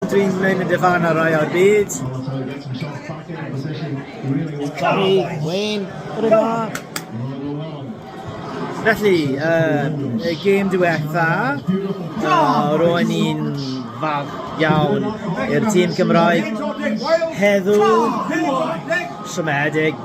Dwi'n mynd i ddyfarnau rhai o'r byd. Sorry, Wayne, bore da. Felly, uh, y gêm diwetha, uh, ro'n i'n fawr iawn i'r tîm Cymraeg. Heddiw, siomedig,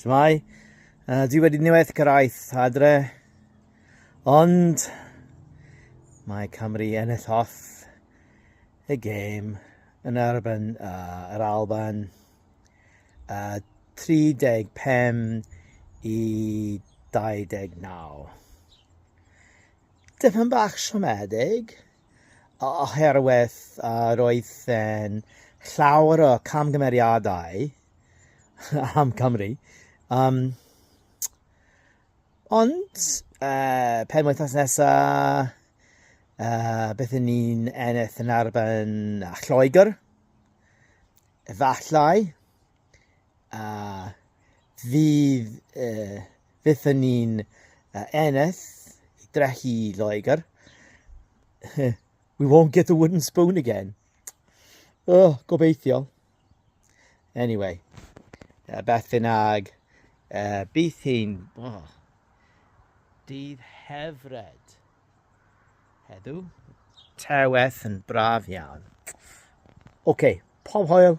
Shmai, uh, dwi wedi niwedd gyrraedd adre, ond mae Cymru ennill off y gêm yn erbyn uh, yr Alban uh, 35 i 29. Dyfan bach siomedig, oherwydd uh, roedd yn llawer o camgymeriadau am Cymru. Um, ond, uh, pen wythnos nesaf, uh, beth yn ni'n ennill yn arben a Lloegr, efallai, a uh, fydd uh, Fyddwn ni'n uh, eneth i drechu i Loegr. We won't get the wooden spoon again. Oh, gobeithio. Anyway, uh, beth bynnag, uh, bydd hi'n... Oh, dydd hefred hedw. Terweth yn braf iawn. OK, pob hoel.